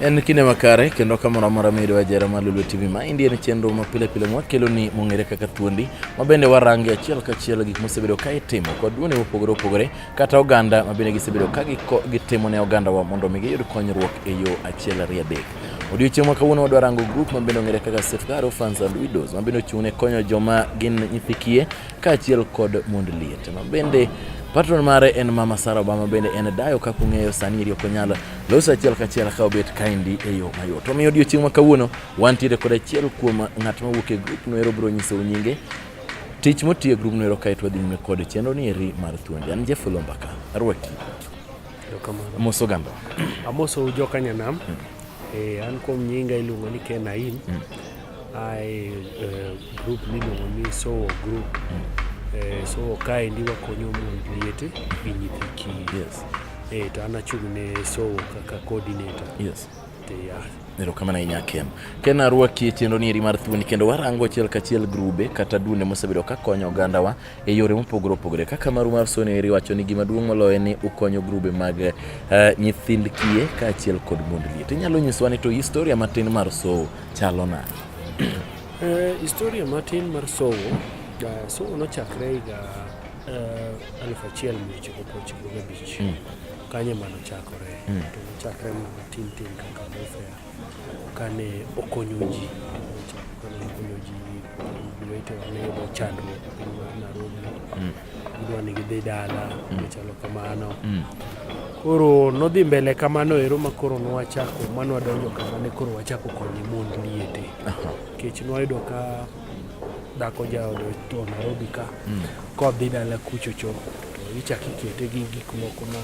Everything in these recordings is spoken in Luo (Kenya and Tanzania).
En kinde makare kendo kamoro amora miyudo ajera mar Lulu TV ma indie en chenro ma pile pile mwakelo ni mong'ere kaka thuondi ma bende warange achiel kachiel gik mosebedo ka itimo kod duone mopogore opogore kata oganda ma bende gisebedo ka gitimo ne ogandawa mondo mi giyud konyruok e yo achiel ariyo adek. Odiochieng' ma kawuono wadwa rango grup ma bende ong'ere kaka Safeguard Orphans and Widows ma bende ochung' ne konyo joma gin nyithi kiye kaachiel kod mond liet ma bende patron mare en mama Sara Obama bende en dayo kaka ung'eyo sani iri ok onyal loso achiel kachiel ka obet kaendi e yo mayot. Omiyo odiechieng' ma kawuono wantiere kod achiel kuom ng'at ma wuok e grup noero biro nyisou nyinge tich motiyo e grup noero kaeto wadhi nyime kod chenro ni eri mar thuondi. An Jeff Lombaka, arwaki. Amoso gamba. Amoso joka nyanam. Hmm. Eh, an kuom nyinga iluongo ni Ken Aim. Hmm. I uh, group miluongo ni Sowo group. Mm. Eh, so kaendi wakonyo mond liete gi nyithi kiye. Yes. Eh, to an achung' ne Sowo kaka coordinator. Yes. Te, yeah. Erokamano ahinya Ken. Ken arwaki e chenro nieri mar thuoni kendo warango achiel kachiel grube kata dune mosebedo ka konyo ogandawa e yore mopogore opogore. Kaka maru mar sono eri wacho ni gima duong' moloyo ni ukonyo grube mag uh, nyithind kiye kaachiel kod mond liet. Inyalo nyiswa ni to historia matin mar sowo chalo nade? Eh, historia matin mar sowo eh, sowo nochakre higa eh, aluf achiel mia ochiko prochiko gabich mm. kanye mano chakore mm. to nochakre mana tin tin kaka welfare kane okonyo ji kane okonyo ji wetewa ne yudo chandruok e piny mar Nairobi mm. gidwa ni gidhi dala mm. machalo kamano mm. koro nodhi mbele kamano ero ma koro nwachako ma nwadonjo kama ne koro wachako konye mond liete nikech nwayudo ka dhako jaode to Nairobi ka mm. kodhi dala kuchocho to ichako ikete gi gik moko ma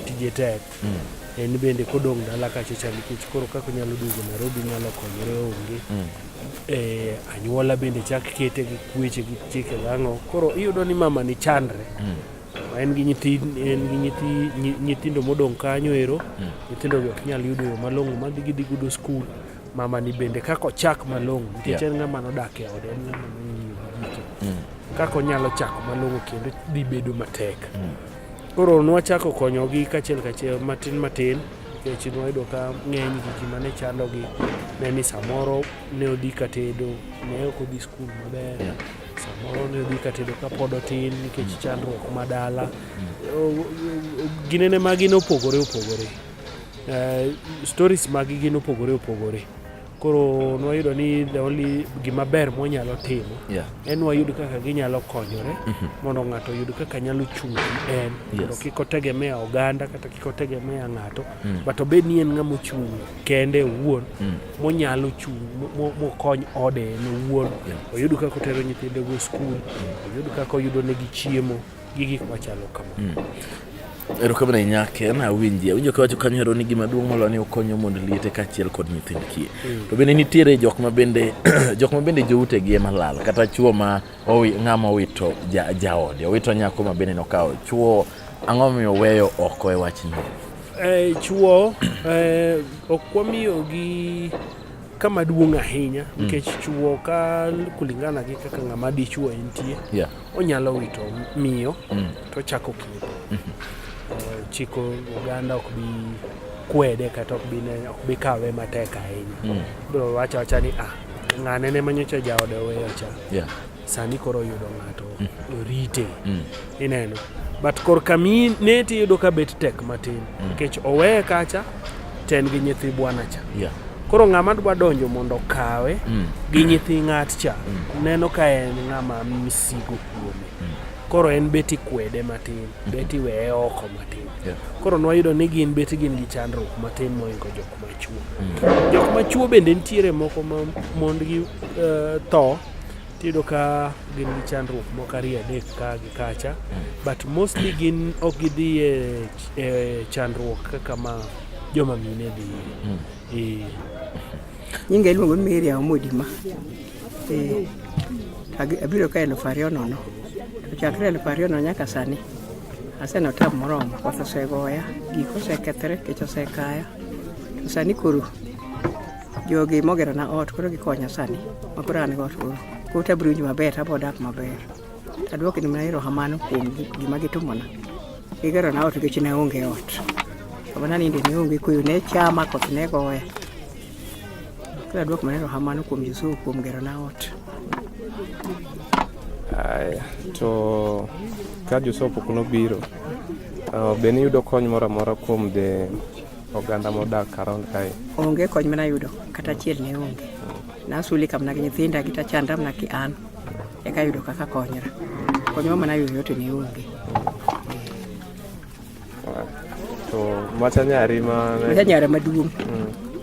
tije tek mm. en bende kodong' dala kacha cha nikech koro kaka onyalo duogo Nairobi nyalo konyore onge mm. e, anyuola bende chak kete gi kweche gi chike gang'o koro iyudo ni mama ni chandre mm. en gi nyithi en gi nyithi nyithindo modong' kanyo ero mm. nyithindo gi ok nyal yudo yo malong'o ma gidhi gudo skul mama ni bende kaka ochak malong'o nikech yeah. en ng'ama nodak e ode en ng'ama nong'iyo gi gike mm. kaka onyalo chako malong'o kendo dhi bedo matek mm. Koro nwachako konyogi kachiel kachiel matin matin nikech nwayudo ka ng'eny gigi mane chandogi ne ni samoro ne odhi katedo ne ok odhi skul maber samoro ne odhi katedo kapod otin nikech mm. chandruok ma dala mm. ginene magi ne opogore opogore eh, stories magi gin opogore opogore koro nwayudo ni the only gima ber mwanyalo timo yeah. en wayud kaka ginyalo konyore mm -hmm. mondo ng'ato oyud kaka nyalo chung' en mondo yes. kik otegemea oganda kata kik otegemea ng'ato mm. but obed ni en ng'ama ochung' kende owuon mm. monyalo chung' mokony ode en owuon yeah. oyud kaka otero nyithindego skul mm. oyud kaka oyudo negi chiemo gi gik machalo kama. Mm. Erokamano ahinya Ken, awinji awinjo kawacho kanyo hero ni gima duong' moloyo ni okonyo mondo liete kaachiel kod nyithind kiye. Mm. To bende nitiere jok ma bende jok ma bende joute gi ema lal kata chwo ma owi ng'ama owito ja, jaode owito nyako ma bende nokawo chwo ang'o miyo weyo oko e wachni? Eh, chwo eh, ok wamiyo gi kama duong' ahinya mm. nikech mm. chwo ka kulingana gi kaka ng'ama dichwo entie yeah. onyalo wito miyo mm. to chako kido mm -hmm. chiko oganda ok bi kwede kata ok bi ne ok bi kawe matek ahinya mm. bro wacha wacha ni ah ng'ane ne manyocha jaode oweyo cha yeah. sani koro yudo ng'ato mm. rite mm. ineno but korka mi ne tiyudo ka bet tek matin mm. nikech mm. oweye kacha ten gi nyithi bwana cha yeah. koro ng'ama dwa donjo mondo okawe mm. gi nyithi ng'at cha mm. neno ka en ng'ama misigo kuome mm. koro en beti kwede matin mm. beti weye oko matin yeah. koro nwayudo ni gin beti gin gi chandruok matin moingo jok machuo mm. jok machuo bende nitiere moko ma mondgi uh, tho tiyudo ka gin gi chandruok moko ariyo adek ka gi kacha but mostly gin ok gidhi e, e chandruok kaka ma joma mine dhi hmm. e. nyinga iluongo ni Maria Omodima e, abiro ka elfu ariyo nono to chakre elfu ariyo nono nyaka sani aseno tab moromo koth osegoya gik osekethre kech osekaya to sani koro Jogi mogero na ot koro gikonya sani makoro an got koro koro tabiro winjo maber tabo dak maber tadwoki ni mana erokamano kuom gima gitimona gigero na ot nikech ne onge ot kama naninde ne onge kuyo ne chama koth ne goya koro adwok mana erokamano kuom Yesu kuom gero na ot Aya, to ka Joseph pok nobiro, uh, be niyudo kony moro amora kuom the Oganda modak around kae. Onge kony mana yudo kata achiel ne onge. Nasuli kam na gi nyithinda gi tachanda mana ki an. Eka yudo kaka konyra. Konywa mana yudo yote ne onge. To macha nyari ma Macha nyara maduong'.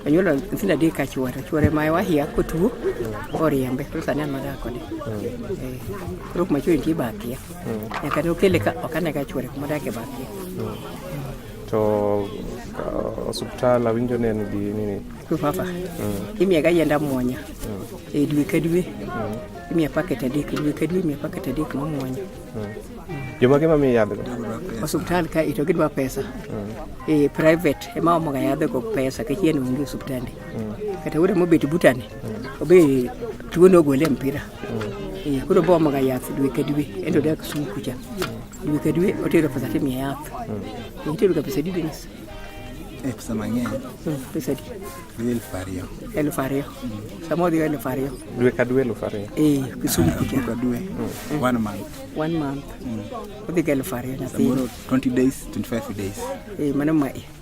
Onyuolo nyithindo adek ka chwore. Chwore ma wahia kotuo oriembe. Koro sani an madak kode. Eh, Koro kuma chwore nitie bakia. Nyaka ne okele ka ok ane ka chwore kuma odakie bakia. to uh, osuptal awinjo ne en gi nini Papa, mm. imiya ga yienda muonya mm. e dwe ka dwe mm. imiya paket adek dwe ka dwe imiya paket adek ma muonya mm. jomage mamiyo yadhgo osuptal ka ito gidwa pesa mm. e private ema omoga yadhgo pesa kachien onge osuptande mm. kata wuode mobet butane mm. obe tuo nogole mpira mm. e, koro bomoga yath dwe ka dwe ento dak sum kucha mm. Dwe ka dwe otero pesa to imiye yath. Mm. Itero ga pesa adi Dennis? Eh, pesa mang'eny. Mm, pesa adi? Dwe elfu ariyo. Elfu ariyo. Mm. Sama odhi elfu ariyo. Dwe ka dwe elfu ariyo. Eh, Kisumu ah, kucha. Ka dwe. Mm. mm. One month. One month. Mm. Odhi ga elfu ariyo nyathi. Samoro 20 days, 25 days. Eh, mano mae.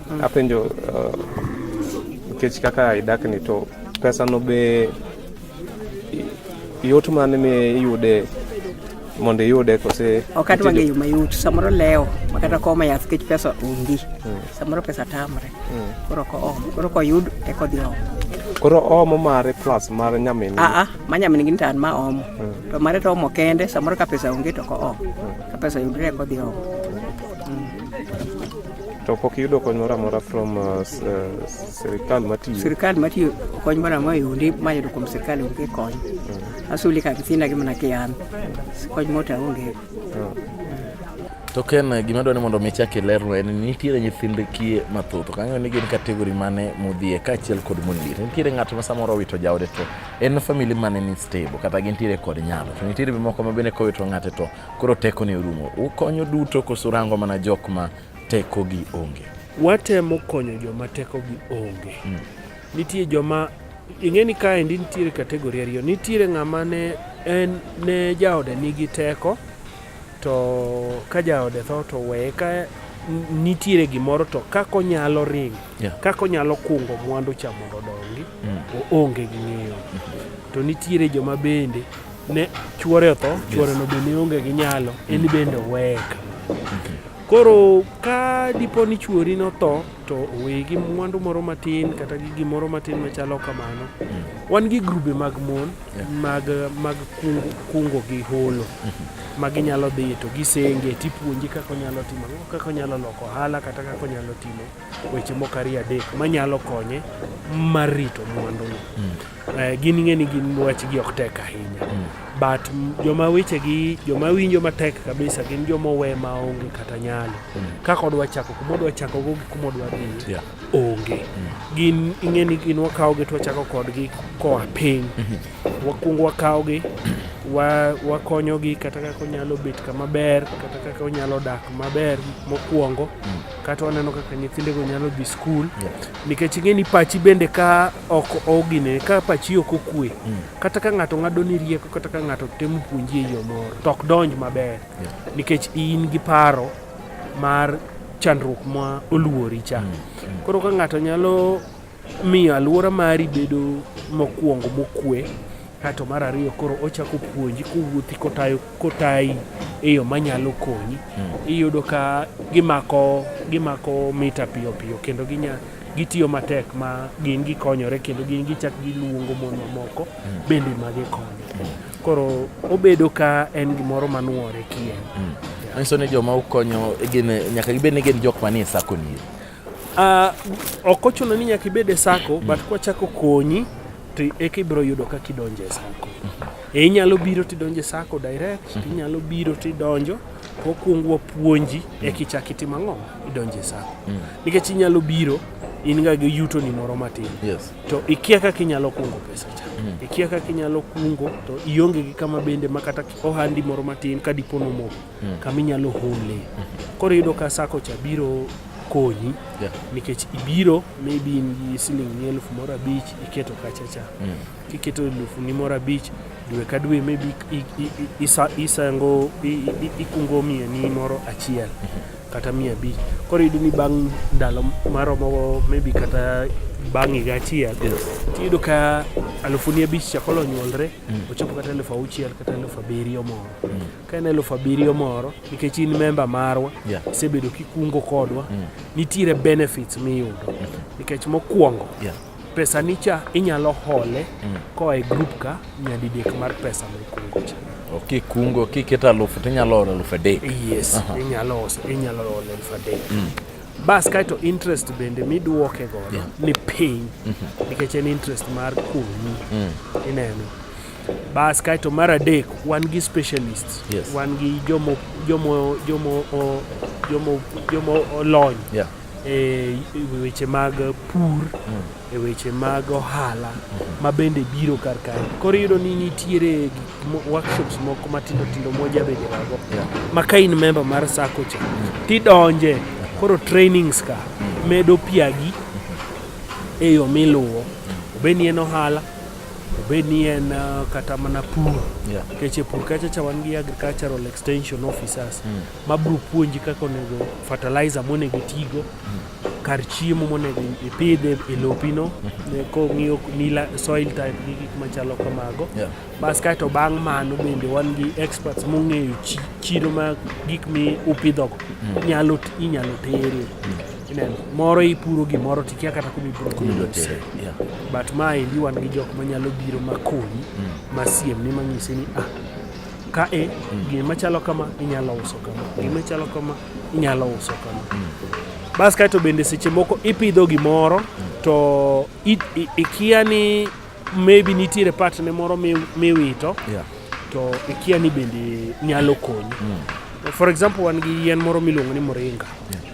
Apenjo uh, nikech uh, kaka idak ni to pesa no be yot mane mi iyude mondo iyude kose ok adwa ng'eyo mayot samoro lewo makata koma yath kech pesa onge hmm. samoro pesa tamre hmm. koro ko om koro koyud eko dhi om koro omo mare plus mar nyamin aa ah, ah, ma nyamin gin tan ma omo hmm. to mare to omo kende samoro ka pesa onge to ko om ka pesa yudre eko dhi om To pok iyudo kony moro amora from uh, uh, sirkal matiyo? Sirkal matiyo kony moro amora yundi mayudo kuom sirkal onge kony. Mm. Asuli ka nyithinda gi mana kian. Kony mota onge. Oh. To ken gima dwani mondo mi chak ilerno en ni nitiere nyithind kie mathoth ok ang'eyo ni gin kategori mane modhiye kaachiel kod mondire nitiere ng'ato ma samoro owito jaode to en famili mane ni stable kata gintiere kod nyalo to nitiere moko ma bende kowito ng'ate to Koro teko ne orumo. Ukonyo duto koso rango mana jok ma teko gi onge? Watemo konyo joma teko gi onge. Hmm. Nitie joma ing'e ni kaendi nitiere kategori ariyo. Nitiere ng'ama ne en ne jaode nigi teko to ka jaode tho to weye ka nitiere gimoro to kaka onyalo ring yeah. kaka onyalo kungo mwandu cha mondo odongi mm. oonge gi ng'eyo mm -hmm. to nitiere joma bende ne chuore otho chuoreno be ne onge gi nyalo en bende oweye koro ka dipo ni chuori notho to oweye gi mwandu moro matin kata gi gimoro matin machalo kamano wan gi grube mag mon mag mag kungo, kungo gi holo ma ginyalo dhi to gisenge tipuonji kaka onyalo timo ang'o, kaka onyalo loko ohala kata kaka onyalo timo weche moko ariyo adek manyalo konye mar rito mwanduno. Mm. Eh, gin ing'e ni gin wachgi ok tek ahinya mm. but joma wechegi joma winjo matek kabisa gin joma owe ma onge kata nyalo mm. kaka odwa chako kuma odwa chako go gi kuma odwa dhi yeah. onge mm. gin ing'e ni gin wakawogi to wachako kodgi koa piny mm -hmm. wakwongo wakawogi wakonyogi kata kaka onyalo bet kama ber kata kaka onyalo dak maber mokwongo mm. kata waneno kaka nyithindego nyalo dhi skul nikech ing'e ni pachi bende ka ok ogine ka pachi ok okwe mm. kata ka ng'ato ng'ado ni rieko kata ka ng'ato temo puonji e yo moro to ok donj maber nikech in gi paro mar chandruok ma oluori cha mm, mm. koro ka ng'ato nyalo Miyo alwora mari bedo mokwongo mokwe kato mar ariyo koro ochako puonji kowuothi kotayo kotayi e yo manyalo konyi hmm. iyudo ka gimako gimako mita piyo piyo kendo ginya gitiyo matek ma gin gikonyore kendo gin gichak giluongo mon mamoko hmm. bende ma gikonyo hmm. koro obedo ka en gimoro manuore kien manyiso ni joma ukonyo gin nyaka gibed ni gin jok manie sakoni Uh, ok ochuno ni nyaka ibed e sako but kwachako konyi to eka ibiro yudo kaka idonjo e sako e inyalo biro tidonjo e sako direct mhm. inyalo biro tidonjo wakuongo wapuonji mm. eka ichak itim ang'o idonjo e sako mm. nikech inyalo biro in ga gi yuto ni moro matin yes. to ikia kaka inyalo kungo pesa cha mm. ikia kaka inyalo kungo to ionge gi kama bende makata ohandi moro matin ka dipo nomoko mm. kama inyalo hole. Koro yudo ka sako cha biro konyi yeah. nikech ibiro maybe in gi siling ni elfu moro abich iketo kachacha mm. kiketo elfu ni moro abich dwe ka dwe maybe isango ikungo mia ni moro achiel kata mia abich koro yudo ni bang' ndalo maromo maybe kata bang' higa achiel tiyudo ka alufuni abich chako nyuolre mm. ochopo kata elfu auchiel kata elfu abiriyo moro mm. ka en eluf abiriyo moro nikech in memba marwa Yeah. isebedo kikungo kodwa nitiere benefits miyudo nikech mokwongo Yeah. pesa nicha inyalo hole koa e group ka nyadidek mar pesa mikungo cha Kikungo kiketo alufu to inyalo oro alufu adek. yes inyalo ose inyalo hole eluf adek bas kaeto interest bende miduoke godo ni piny nikech en interest mar kunyi ineno Bas kaeto mar adek wan gi specialist yes. wan gi jomo jomo jomo jomo jomo olony yeah. e weche mag pur mm. e weche mag ohala mm-hmm. ma bende biro kar kae koro iyudo ni nitiere workshops moko matindo tindo moja bende mago yeah. ma ka in member mar sako cha mm. tidonje uh-huh. koro trainings ka mm. medo piagi mm-hmm. e yo miluwo obed ni en ohala obed ni en uh, kata mana pur yeah. keche pur kacha cha wan gi agricultural extension officers mm. ma biro puonji kaka onego fertilizer monego tigo mm. kar chiemo monego ipidhe e lopino mm. Mm-hmm. Eh, kong'iyo nila soil type gi gik machalo kamago yeah. bas kaeto bang' mano bende wan gi experts mong'eyo chiro ma gik mi upidhogo mm. inyalo tere mm. Ineno, moro ipuro gimoro to ikia kata kuma ibiro Kuma ibiro tere, tere. Yeah. But ma endi wan gi jok manyalo biro makonyi masiem ni manyisi ni ah, ka e gima chalo kama inyalo uso kama, gima chalo kama inyalo uso kama. Bas kaeto bende seche moko ipidho gimoro to i- i- ikia ni maybe nitiere part ne moro mi- miwito Yeah. to ikia ni bende nyalo konyi. For example wan gi yien moro miluongo ni moringa.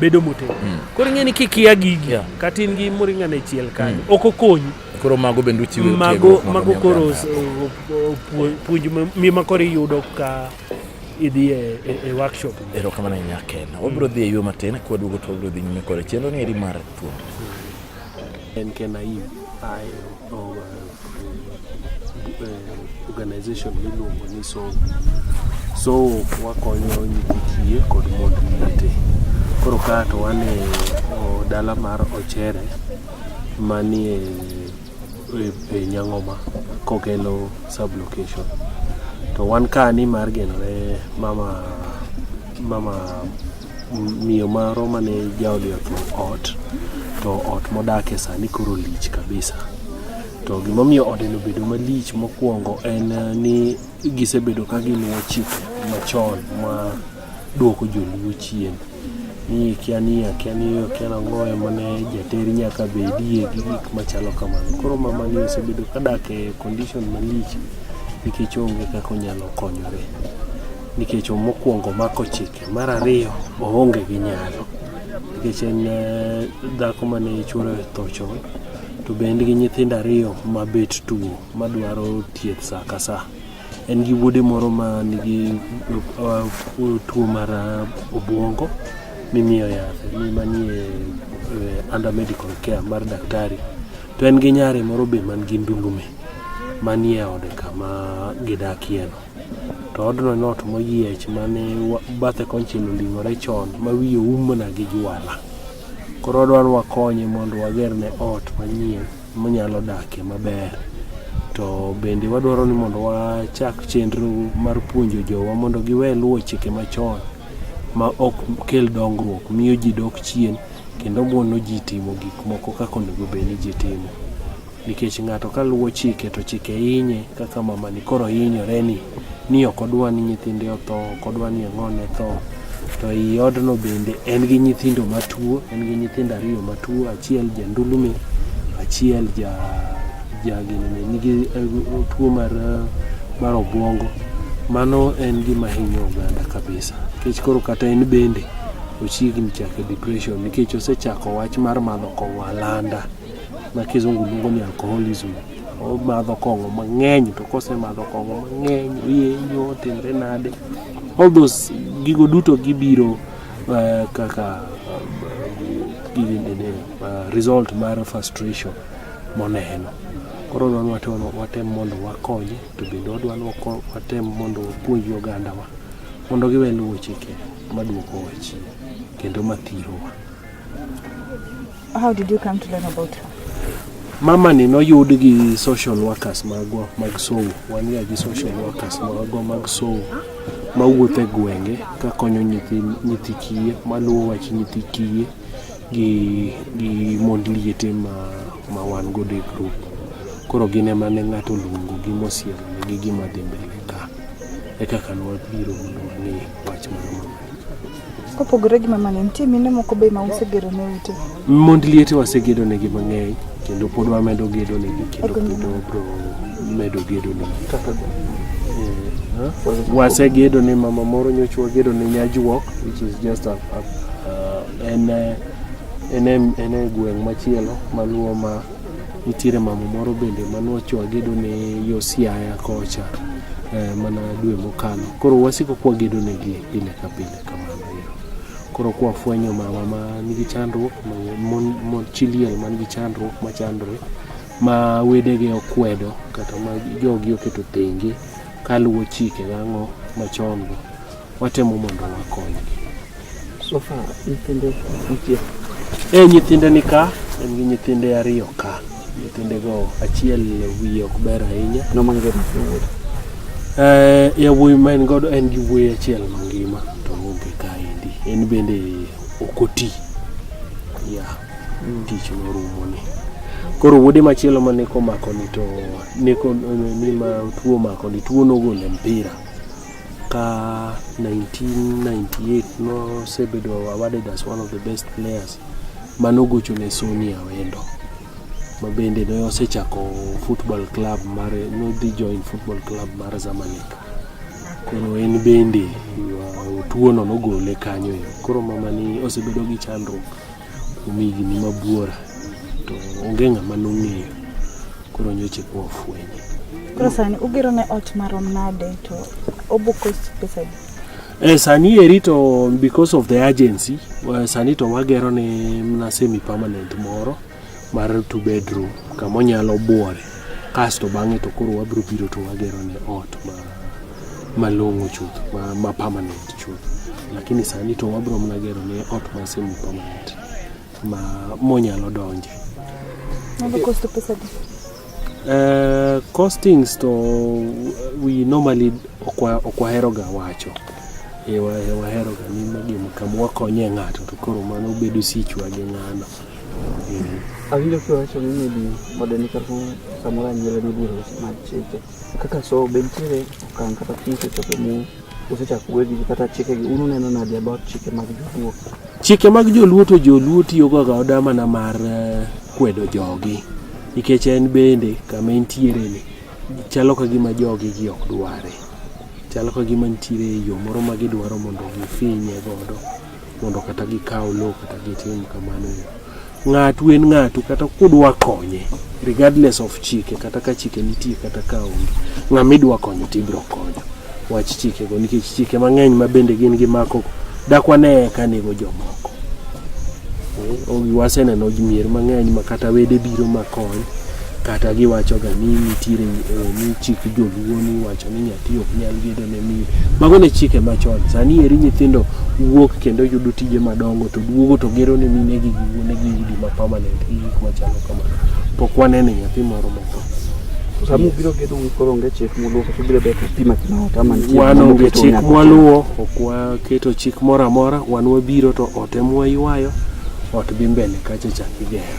bedo motegno mm. koro ing'e ni kikia gigi yeah. kata in gi moringa ne chiel kanyo mm. ok okonyi koro mago bende uchiwo mago mago koro puonj mi ma koro iyudo ka idhi e, e, e workshop erokamano e ahinya ken wabiro mm. dhi e yo matin kwa duogo to wabiro dhi nyime kore chenro ni eri mar thuolo en ken ayim ayo organization miluongo ni sowo sowo wakonyo nyithi kiye kod mond liete koro ka to wan e dala mar ochere manie e, e nyang'oma kokelo sublocation to wan ka ni mar genore mama mama miyo maro mane jaodi otho ot to ot modake sani koro lich kabisa to gimomiyo ode nobedo malich mokwongo en eh, ni gisebedo ka giluwo chike machon ma dwoko joluo chien ni kia ni akia ni akia nang'o ema ne jater nyaka bedie gi gik machalo kamano koro mama ni osebedo ka dak e condition malich nikech onge kaka onyalo konyore nikech mokwongo mako chike Mar ariyo, oonge gi nyalo nikech en eh, dhako mane chuore tho chon to be en gi nyithindo ariyo ma bet tuo madwaro thieth saa ka saa. En gi wuode moro ma nigi eh, tuo mar eh, obwongo mimiyo yath ni manie under medical care mar daktari to en gi nyare moro be man gi ndulume manie ode kama gidakieno. to odno en ot moyiech mane bathe konchiel oling'ore chon ma wiye oum mana gi jwala. Koro odwa ni wakonye mondo wagerne ot manyien monyalo dakie maber. To bende wadwaro ni mondo wachak chenro mar puonjo jowa mondo giwe luwo chike machon ma ok kel dongruok, miyo ji dok chien kendo mono ji timo gik moko kaka onego bed ni ji timo. nikech ng'ato ka luwo chike to chike inye kaka mamani koro inyore ni ni ok odwa ni nyithinde otho ok odwa ni ang'one tho to i odno bende en gi nyithindo matuo en gi nyithindo ariyo matuo achiel jandulume achiel ja jaginene nigi eh, tuo mar eh, mar obwongo mano en gima hinyo oganda kabisa nikech koro kata en bende ochiegni chake depression nikech osechako wach mar madho kong'o alanda ma kizungu luongo ni alcoholism omadho kong'o mang'eny to kosemadho kong'o mang'eny oyenyo otimre nade all those gigo duto gibiro uh, kaka uh, uh, result mar frustration moneno koro dwani watem mondo wakonye to bende wadwani watem mondo wapuonji ogandawa mondo giwe luwo chike maduoko wachie kendo mathirowa How did you come to learn about her? Mama ni noyud gi social workers magwa mag sow. Wan ga gi social workers magwa mag sow mawuotho e gwenge kakonyo nyithi, nyithi kiye maluwo wach nyithi kiye gi, gi mond liete ma, ma wan godo e group. Koro gin ema ne ng'ato luongo gi mosiemo gi gima dhi mbele ka. Eka kano wabiro mondo wang'e wach mar mama. Kopogore gi mamani, nitie mine moko be ma usegero ne ute? Mond liete wasegedo negi mang'eny kendo pod wamedo gedo negi kendo pod wabro medo gedo negi. Eh, wasegedo ne mama moro nyocha wagedo ne Nyajwok which is just a, a, a, en eh, en e gweng' machielo maluwo ma Nitiere mama moro bende mane wagedo ne Yosiaya kocha eh, mana dwe mokalo. Koro wasiko kwa gedo ne gi pile ka pile kamano. Koro kwa fwenyo mama ma nigi chandruok, mon, mon chiliel man gi chandruok ma chandre ma wedege okwedo kata ma jogi oketo tenge kaluwo chike gang'o machon go. watemo mondo wakonygi. So far, nyithinde nitie. Eh, nyithinde ni ka, en gi nyithinde ariyo ka. Nyithindego achiel wiye ok ber ahinya. No mangima wuod. Eh, yawuoyi ma en godo en gi wuoyi achiel mangima to onge kaendi. En bende ok oti. Ya, tich norumo ni. Koro wuode machielo ma neko makoni to neko ni ma tuo makoni tuo nogole mpira. ka 1998 nosebedo awarded as one of the best players manogocho ne Sony Awendo mabende ne osechako football club mar nodhi join football club mar Zamalek koro en bende tuono nogole kanyo koro mamani osebedo gi chandruok kuom higni mabuora to onge ng'ama nong'eyo koro nyoche kwa ofwenye koro sani ugero ne ot marom nade to obuko pesa di Eh, sani eri to because of the urgency eh, sani to wagero ne mna semi permanent moro mar two bedroom kama onyalo buore kasto bang'e to koro wabiro biro to wagero ne ot ma malong'o chuth ma, ma permanent chuth lakini sani to wabiro mana gero ne ot ma semi permanent ma monyalo donje Nyalo kosto pesa di. Uh, costings to we normally okwa- okwaheroga wacho Eh, wa- waheroga ni gima kama wakonye ng'ato to koro mano bedo sichwa gi ng'ano Awinjo kiwacho ni maybe modern kata samoro anyuola ni biro mag chike kaka so be nitiere okang' kata piny sechopo mu usechako wegi kata chike gi un uneno nadi about chike mag joluo chike mag joluo to joluo tiyogo ga oda mana mar eh, kwedo jogi nikech en bende kama entiere ni chalo ka gima jogi gi ok dware chalo ka gima nitiere yo moro ma gidwaro mondo gifinye godo mondo kata gikaw low kata gitim kamano ng'atu en ng'atu kata kudwa konye regardless of chike kata ka chike nitie kata ka onge ng'ama idwa konyo to ibiro konyo wach chikego nikech chike mang'eny ma bende gin gi mako dakwa ne eka nego jomoko eh, ogi waseneno mier mang'eny ma kata wede biro makony kata giwachoga ni nitiere eh, ni chik joluo ni wacho ni nyathi ok nyal gedo ne miyo mago ne chike machon sani eri nyithindo wuok kendo yudo tije madongo to duogo to gero ne mine gi giwuone gi udi ma permanent gi gik machalo kamano pok wanene nyathi moro motho sama ubiro gedo koro onge chik muluwo kata ubiro bet pima kima ot ama nitie wan moro onge moketo chik nyaka mwaluwo ok waketo chik moro amora wan wabiro to ot emwa ywayo ot dhi mbele kacha chak igero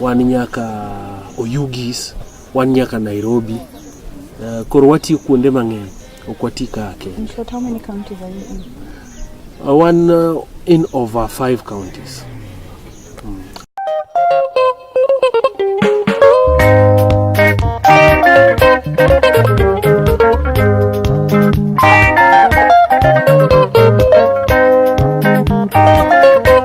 wan nyaka Oyugis, wan nyaka Nairobi. Uh, koro watiyo kuonde mang'eny, ok wati ka Kenya. In short, how many counties are you in? Uh, wan uh, in over five counties.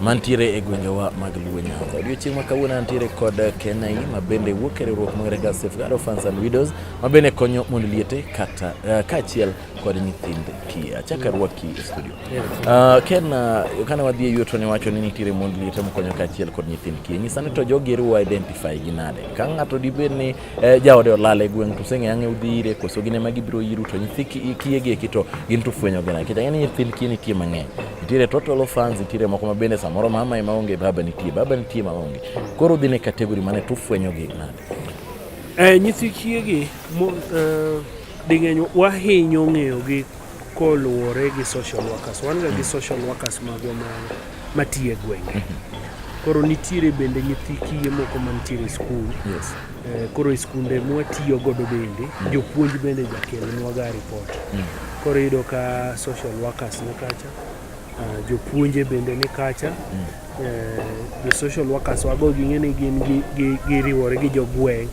mantiere e gwengewa mag Luo Nyanza. Odiochieng' ma kawuono antiere kod Kenai ma bende wuok e riwruok mong'ere ga Safeguard Orphans and Widows ma bende konyo mond liete kata uh, kaachiel kod nyithind kiye. Achaka rwaki e studio. Uh, Ken, uh, eh, kane wadhi e yuto ne wacho ni nitiere mond liete mokonyo kaachiel kod nyithind kiye. Nyisa ni to jogi riwo identify gi nade? Ka ng'ato dibed ni eh, jaode olal e gweng' to useng'e ang'e udhi ire koso gin ema gibiro iru to nyithi kiye gi eki to gin to fwenyo gina nikech ang'e ni nyithind kiye nitie mang'eny nitiere total fans nitiere moko ma bende samoro mama ema onge baba nitie baba nitie ma onge koro udhi ne kategori mane to ufwenyo gi nade eh, nyithi kiye gi mo, eh, ding'eny wahinyo ng'eyogi Koluwore gi social workers, wan ga gi social workers magwa ma matiye gwenge. Mm -hmm. Koro nitiere bende nyithi kiye moko mantiere e skul. Yes. Eh, koro e skunde mwatiyo godo bende, mm. jopuonj bende jakelnwaga ripot. Mm. Koro iyudo ka social workers ni kacha, uh, jopuonje bende ni kacha. Mm. Eh, jo social workers wago ging'e ni gin giriwore gi jogweng'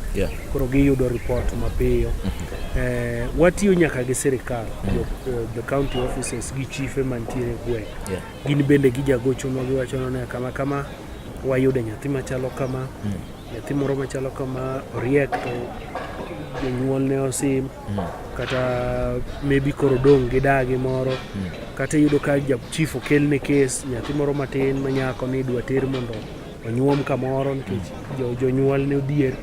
koro giyudo report mapiyo mm-hmm. eh, watiyo nyaka gi sirikal mm-hmm. eh, the county offices gi chife mantiere gweng' gin bende gijagochonwa giwachona ni kama kama wayudo nyathi machalo kama mm. nyathi moro machalo kama oriek to jonyuol ne osim mm. kata maybe koro dong' gi dagi moro mm. kata iyudo ka chief okelne kes nyathi moro matin ma nyako ni idwa ter mondo onyuom kamoro nikech mm. jonyuol ne odhier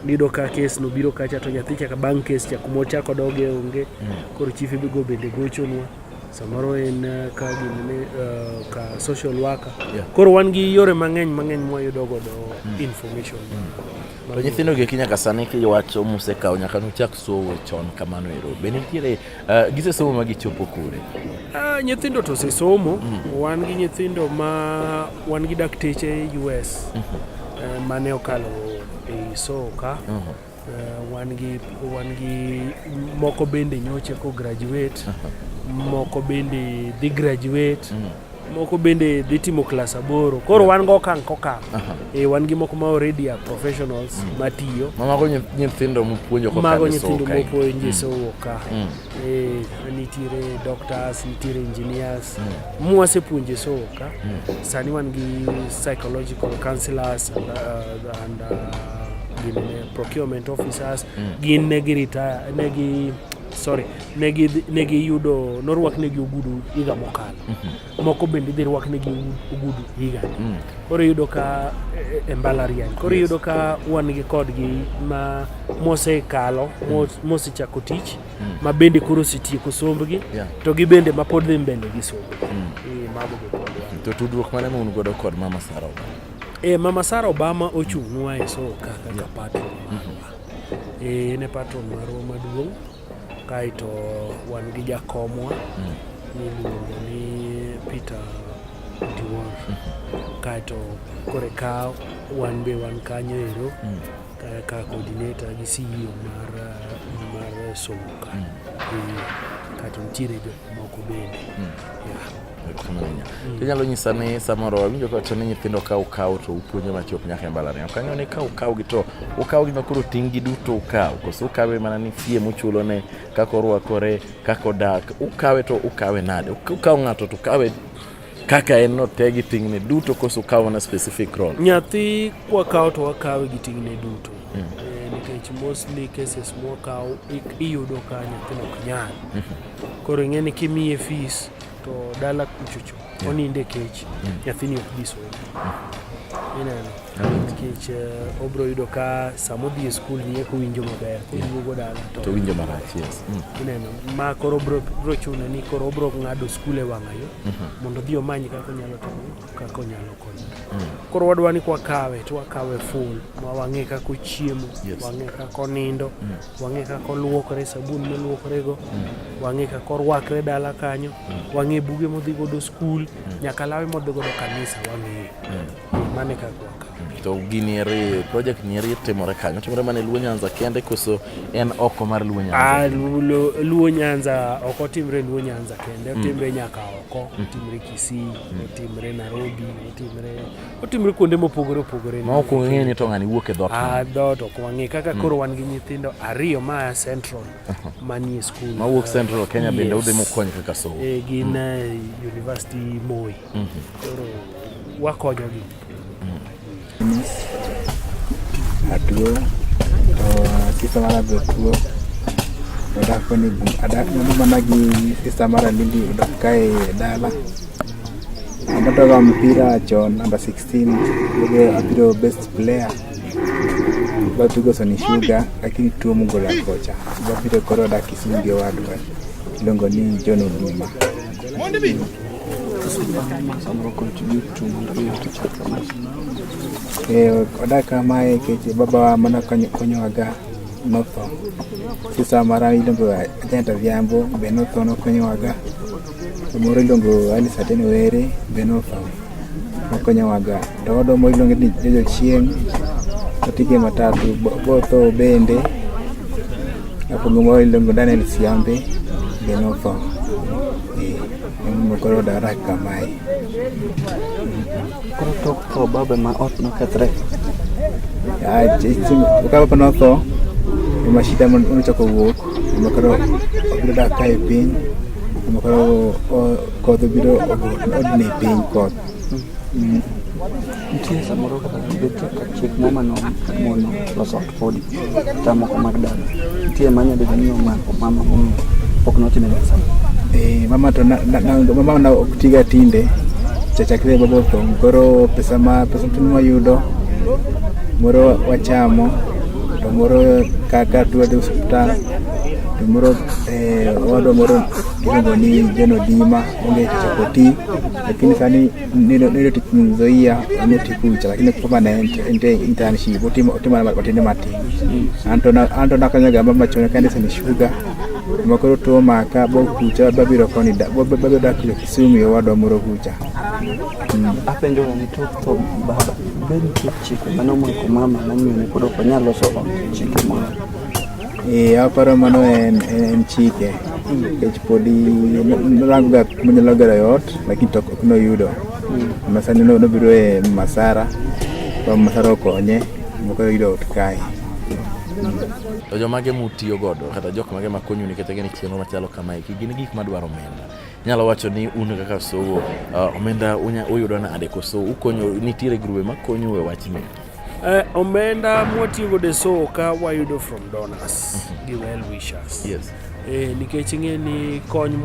nido ka kes no biro kacha to nyathi chaka bang' kes cha kuma ochako doge onge mm. koro chief ibigo bende gochonwa samoro en eh, ka gimene eh, ka social worker koro wan gi yore mang'eny mang'eny mwayudo godo mm. information mm. To nyithindo gi nyaka sani kiwacho musekawo nyaka nuchak somo chon kamano ero. Be nitiere uh, gisesomo ma gichopo kure? Uh, nyithindo to osesomo. Mm. Wan gi nyithindo ma wan gi dakteche US mm -hmm. uh, mane okalo e soka. Mm -hmm. Uh, wan gi wan gi moko bende nyoche ko graduate. Uh -huh. Moko bende dhi graduate. Mm. moko bende dhi timo klas aboro koro wan go okang' kokang' e, wan gi moko ma already are professionals mm. matiyo mago nyithindo mopuonjo mago nyithindo mopuonjo sowuok ka nitiere doctors nitiere engineers mm. mwasepuonjo e sowo ka mm. sani wan gi psychological counselors and, uh, and uh, gin procurement officers gin ne gi retire ne gi sorry ne giyudo norwaknegi ogudu higa mokalo mhm. moko bende idhi rwaknegi ogudu higani mm. koro iyudo ka e, e mbalariany koro iyudo ka wan gi kodgi ma mosekalo mm. mosechako tich mm. ma bende koro osetieko sombgi to gi bende ma pod dhi mbele gi sombgi e, to tudruok mane ma un godo kod mama sara obama e mama sara obama ochung'nwa e soka kaka patro mm-hmm. Eh, en e patron marwa maduong' kaeto wan gi jakomwa mm. miluongo ni Peter Diwor mm. kaeto kore ka wan be wan kanyo ero mm. ka coordinator gi CEO mar mar somo kanyo eh, kaeto nitiere jok moko bende to inyalo nyisa ni samoro awinjo kawacho ni nyithindo ka ukaw to upuonjo machop nyaka e mbalariany ok ang'eyo ni ka ukaw gi to ukaw gi makoro ting' gi duto ukaw koso ukawe mana ni fie muchulo ne kaka orwakore kaka odak ukawe to ukawe nade ukaw ng'ato to ukawe kaka en no te gi ting'ne duto koso ukaw mana specific role nyathi kwakaw to wakawe gi ting'ne duto mm. eh, nikech mostly cases mwakaw iyudo ka nyathino ok nyal koro ing'e ni kimiye fees to dala kuchocho yeah. oninde kech mm. nyathini ok bi somo mm. ineno nikech uh, obro yudo ka sama odhi e skul ni eko winjo maber koduogo dala to winjo marach yes. mm. ineno ma koro bro, bro chune ni koro obro ng'ado skul e wang'ayo mm -hmm. mondo odhi omany kaka onyalo timo kaka onyalo konyo mm. koro wadwa ni kwakawe to wakawe full ma wang'e kaka ochiemo yes. wang'e kaka onindo mm. wang'e kaka oluokore, sabun moluokorego, mm. wang'e kaka orwakre dala kanyo, mm. wang'e buge modhi godo skul, mm. nyaka lawe modhi godo kanisa wang'eyo. Mane kaka to gini eri project ni eri timore kanyo timore mana e Luo Nyanza kende koso en oko mar Luo Nyanza? Ah, Luo Nyanza ok otimre Luo Nyanza kende, otimre nyaka oko, otimre Kisii, otimre Nairobi, otimre otimre kuonde mopogore opogore ma ok ung'eyo ni to ng'ani wuok e dhot a dhot ok wang'e kaka hmm. koro wan gi nyithindo ariyo ma a central manie school ma wuok central Kenya yes. bende udhi mukonyo kaka somo e, gin mm. uh, university Moi mm -hmm. koro wakonyogi mm. atuo to sisa mara be tuo odak koni adak mana gi sisa mara lili odak kae dala Ametoka mpira cho number 16 yule apiro best player bapiro soni shuga lakini tuo mugo la kocha bapiro koro da kisinge wadwa longo ni John Oduma Eh, odaka mae keche baba wa mana konyo konyowaga notho sisa mara iluongo ajenta vyambo be notho nokonyowaga Moro iluongo Alice Ateno Were Benofa okonyowaga to odo moro iluongo ni Jojo Chieng' otike matatu botho bende apogo moro iluongo Daniel Siambe Benofa eh, emomokoro odarak kamae Tho baba ma ot nokethre. Ah, Kaka baba notho, ema shida ma nochako wuok, ema koro obiro dak ka e piny, ema koro o- koth obiro odne piny koth. Nitie samoro kata bet ka chik moma no mono loso ot podi. Tamoko mag dala. Nitie manya bedo ni omako mama momiyo pok nochime pesa. Eh, mama to na, na, na, mama na ok tiga tinde chachakre baba otho koro pesa ma pesa tin mwayudo moro wachamo to moro kaka tuwadhi osuptal to moro eh, owadwa moro iluongo ni John Odima onge chako ti lakini sani nilotizoia notikucha lakini kupambana ende internship utima utima batende mati anto na anto na kanya gamba machona kande sani shuga makoro to maka bo kucha babiro koni da bo babiro da kile kisumi yo wado moro kucha ape ndio ni to to baba ben chike mano mko mama na mimi niko kwa nyalo so chike mama Eh, aparo mano en, en chike nikech podi norangoga kuma nyalo gero e ot lakini to ok noyudo masani no- nobiro e masara to masara okonye moko yudo ot kae To jomage mutiyo godo kata jok mage makonyu nikech gin chenro machalo kamae ki gin gik madwaro omenda. Nyalo wacho ni un kaka sowo uh, omenda unya- uyudo nade koso ukonyo nitiere grube makonyu e wachni. Uh, omenda mwatiyogo de so ka wayudo from donors mm -hmm. gi well wishers yes. Eh, nikech ing'e ni kony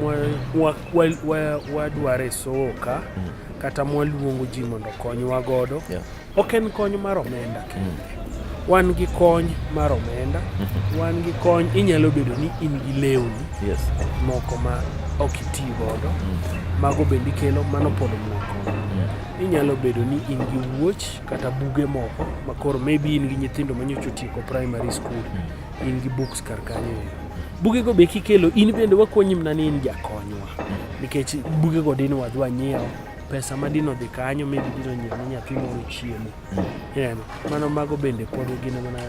wadware sowo ka mm -hmm. kata mwaluongo ji mondo konywa godo yeah. ok en kony mar omenda mm. kende mm. wan gi kony mar omenda mm -hmm. wan gi kony inyalo bedo ni in gi lewni yes. moko ma ok iti godo mm. mago bende ikelo mano pod moko mm. inyalo bedo ni in gi wuoch kata buge moko ma koro maybe in gi nyithindo manyocha otieko primary school hmm. in gi books kar kanyo bugego be kikelo in bende wakonyi mna ni in jakonywa hmm. nikech bugego dine wadhi wanyiewo pesa ma dino dhi kanyo maybe dino nyiewo ne nyathi moro chiemo ineno hmm. mano mago bende pod gin mana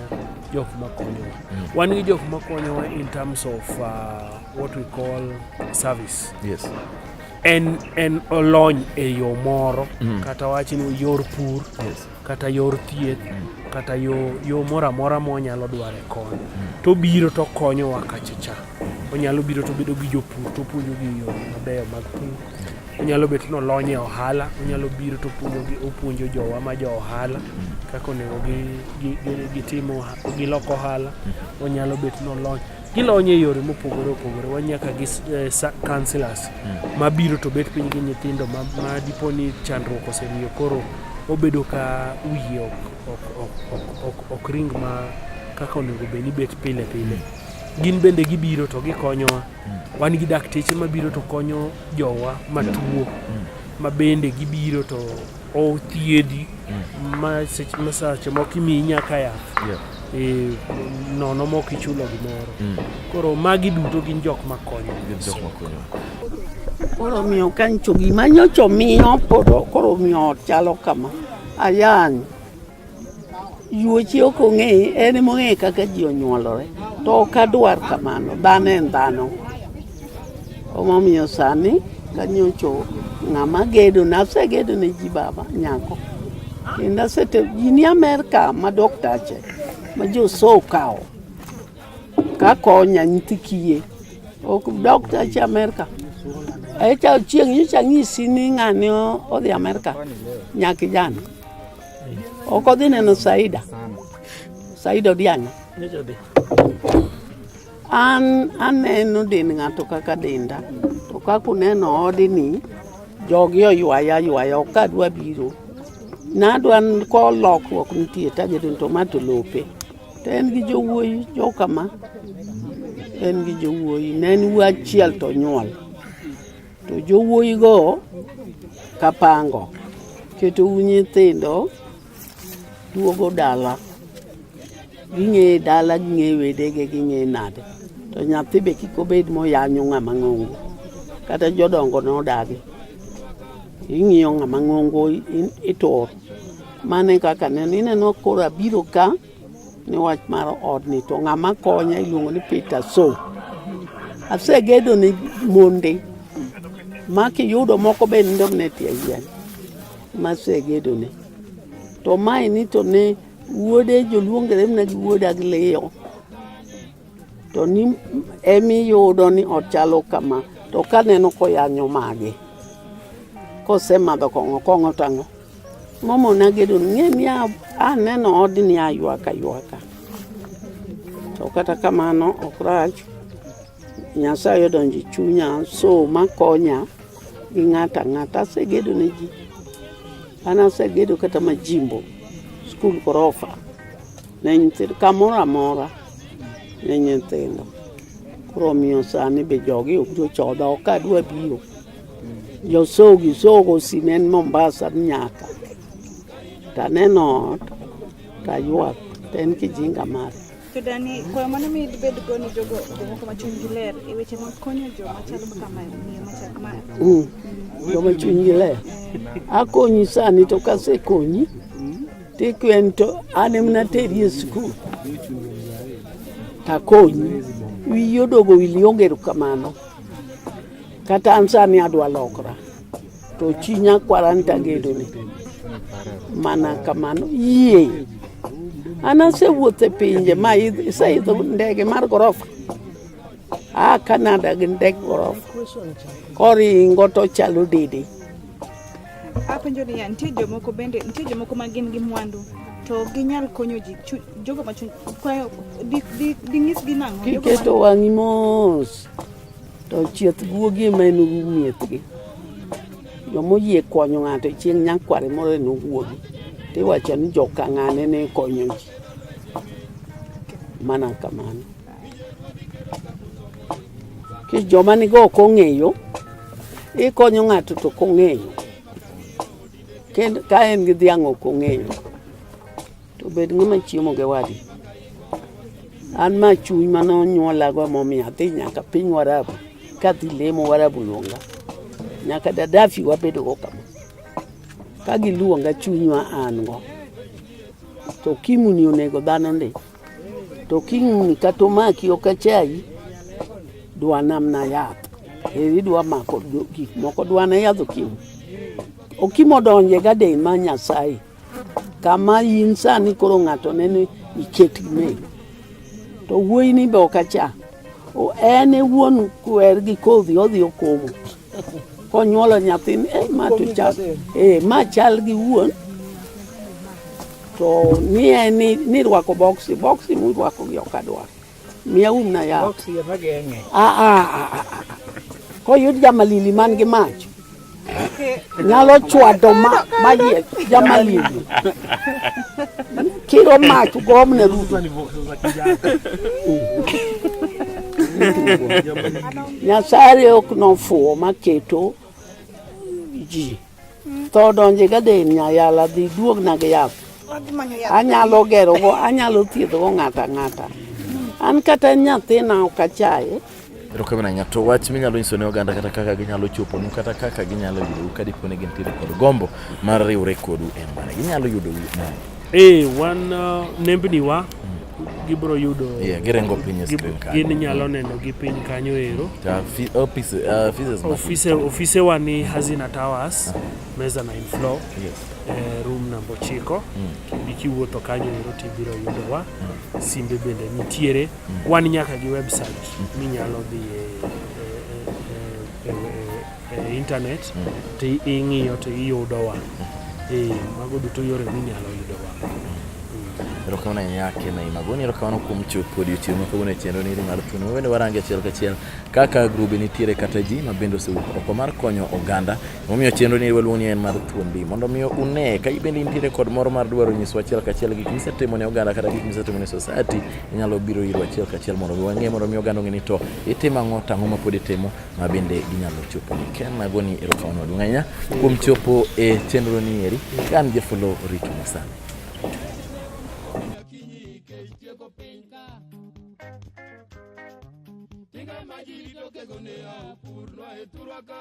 jok makonyowa wan gi jok makonyowa in terms of uh, what we call service yes en en olony e yo moro mm. kata wachi ni yor pur yes. kata yor thieth mm. kata yo, yo moro amora monyalo dware kony mm. to biro to konyowa kachacha onyalo biro to bedo gi jopur to puonjogi yo mabeyo mag pur onyalo bet ni olony e ohala onyalo biro to opuonjo jowa ma jo ohala kaka onego gitim gilok ohala onyalo bet ni olony gilonyo e yore mopogore opogore wanyaka gi eh, councilors hmm. mabiro to bet piny gi nyithindo ma, ma dipo ni chandruok osemiyo koro obedo ka wiye ok, ok, ok, ok, ok, ok ring ma kaka onego bed ni bet pile pile hmm. gin bende gibiro to gikonyowa hmm. wan gi dakteche mabiro to konyo jowa matuo hmm. ma bende gibiro to Othiedhi mm. ma seche ma seche moko imiyi nyaka yath yeah. e, nono mok ichulo gimoro mm. koro magi duto gin jok makonyo koro miyo kancho gima nyocho miyo koro miyo chalo kama ayany Yuochi ok ong'e, en ema ong'e kaka ji onyuolore. To ok adwar kamano, dhano en dhano. Omomiyo sani kanyocho ng'ama gedo na asegedo ne ji baba nyako. Kendo asete gini Amerka ma doktache ma joso okawo kakonya nyithi kiye. Ok doktache Amerka. Echa chieng' nyicha nyisi ni ng'ani odhi Amerka nyakijana. Okodhi neno Saida. Saida Odianga. An aneno din ng'ato kaka dinda. To kaka uneno odini, jogi oywaya ywaya ok adwa biro. Nadwa ko lokruok nitie tagedo to ma to lope. To en gi jowuoyi jokama. En gi jowuoyi. Ne en wuo achiel to nyuol. To jowuoyigo kapango ketou nyithindo duogo dala ging'eyo dala ging'eyo wedege ging'eyo nade to nyathi be kik obed moyanyo ng'ama ng'ongo kata jodongo nodagi ing'iyo ng'ama ng'ongo itur mane kaka neno ineno koro abiro ka ni wach mar odni to ng'ama konya iluongo ni Peter So. Asegedo ni monde ma kiyudo moko be nindo ne tie yien ma asegedo ni. To mae ni to ne wuode joluongere mna gi wuoda gi liyo. To ni emi yudo ni ochalo kama to kaneno koyanyo mage kosemadho kong'o kong'o tang'o. Mama Onagedo ng'e ni aneno odni aywak aywaka, to kata kamano ok rach. Nyasaye odonjo e chunya so makonya gi ng'ata ng'ata. Asegedo ne ji, an asegedo kata majimbo, skul gorofa ne nyithindo, kamoro amora ne nyithindo. Koro omiyo sani be jogi obiro chodha, ok adwa biro. Josogi sogo simen Mombasa nyaka taneno ot taywak to en kijinga mare to dani kwayo mane mi dibed go ni jogo jomoko ma chunygi ler e weche mag konyo jo machalo kaka miyo machal ma mm. joma chunygi ler eh. akonyi sani to kasekonyi tikwen to an emna teri e skul takonyi wiyi odogo wili onge erokamano Kata an sani adwa lokra to chi nyakwara ni tagedoni mana kamano yie an asewuotho e pinje ma iseidho ndege mar gorofa a Canada gi ndeg gorofa koringo to chalo dede apenjo niya nitie jomoko bende nitie jomoko ma gin gi mwandu to ginyal konyo ji jogo ma chuny kwayo ding'isgi nang'o kiketo wang'i mos To chieth guogi ema en miethgi. Joma oyie konyo ng'ato chieng' nyakware moro en guogi. To iwacho ni joka ng'ane ne konyo ji. Mana kamano. Ki joma nigo ok ong'eyo, ikonyo ng'ato to ok ong'eyo. Ka en gi dhiang' ok ong'eyo. To bed ng'ama chiemo gi wadi. An ma chuny mane onyuolago emomiyo adhi nyaka piny Warabu kadhi lemo Warabu luonga. Nyaka Dadafi wabedogo kama. Ka giluonga chuny ma an go. To kimuni onego dhano ndi. To kimuni kata omaki ok achayi. Dwa namna yath. Eri dwa mako gik moko dwa na yadh okimo. Okimo donje gaden ma Nyasaye. Kama in sani koro ng'ato nene iket gimel. To wuoyi ni be ok acha. En e wuon kwer gi kodhi odhi okomo. Konyuolo nyathini, eh, ma to chal, eh, ma chal gi wuon. To ni en ni, ni rwako boksi, boksi murwako gi ok adwar. Miya um na yath. Box ya mageng'e. Ah, ah, ah, ah, ah. Koyud jamalili man gi mach. Nyalo chwado ma mayie jamalili. Kiro mach gomne ruto. Nyasaye ok nofuwo maketo ji tho donje gaden nyayala dhi duogna gi yath anyalo gerogo anyalo thiedhogo ng'ato ang'ata an kata nyathina ok achaye erokamano ahinya to wach minyalo nyiso ne oganda kata kaka ginyalo choponu kata kaka ginyalo yudou ka dipo ni gintiere kod gombo mar riwre kodu en mane ginyalo yudou nade ee wan uh, nembni wa gibro yudo yeah, girengo piny screen kanyo gin nyalo mm. neno gi piny kanyo ero office uh, office office wa ni Hazina Towers meza na floor yes eh, room number 9 mm. ikiwuotho kanyo ero tibiro yudo wa mm. simbe bende nitiere mm. wan nyaka gi website mm. minyalo dhi e e intanet mm. to ing'iyo to iyudowa mm. eh, mago duto yore minyalo yudowa mm. erokamano ahinya kena imagoni erokamano kuom chuth kod odiochieng' ma kawuono e chenro niri mar thuno wawende warange achiel kachiel kaka grube nitiere kata ji ma bende osewuok oko mar konyo oganda momiyo chenro niri waluongo ni en mar thuondi mondo miyo une ka ibende intiere kod moro mar dwaro nyiswa achiel kachiel gik misetimo ne oganda kata gik misetimo ne society inyalo biro irwa achiel kachiel mondo mi wang'e mondo mi oganda ong'e ni to itimo ang'o tang'o ma pod itimo ma bende ginyalo chopo ni ken nagoni erokamano maduong' ahinya kuom chopo e chenro ni eri ka an jafolo rito masani Majito que gonea, purlo e turaka.